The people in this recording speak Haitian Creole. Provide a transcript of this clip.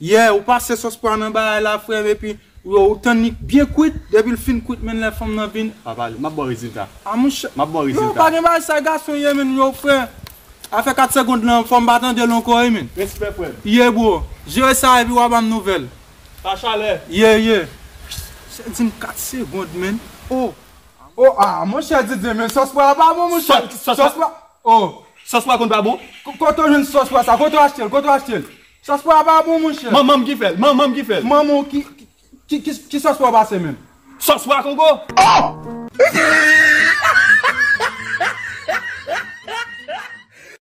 Yeah ou pase sòs pwa nan bagay la frèm epi ou tann li byen kwit depil fin kwit menn lè fanm nan vin pa pale map baw rezilta a monchè map baw rezilta a. Non pa gen bagay sa gason ye menn yow frè afè 4 segond lan fòm pa tandel ankò wi menn. Respè frèm. Yeah bro jere sa epi wa banm nouvèl. Pa chalè. Yeah yeah. Ou se dim 4 segond menn oh. Oh ah monchè Didier men sòs pwa a pa bon monchè sòs pwa oh. Sòs pwa konn pa bon. Kote ou jwenn sòs pwa sa kote ou achtel kote ou achtel. Sòs pwa a pa bon monchè. Manman m ki fè l. Manman m ki fè l. Manman w ki Ki sòs pwa w pase menm? Sòs pwa kongo. Oh!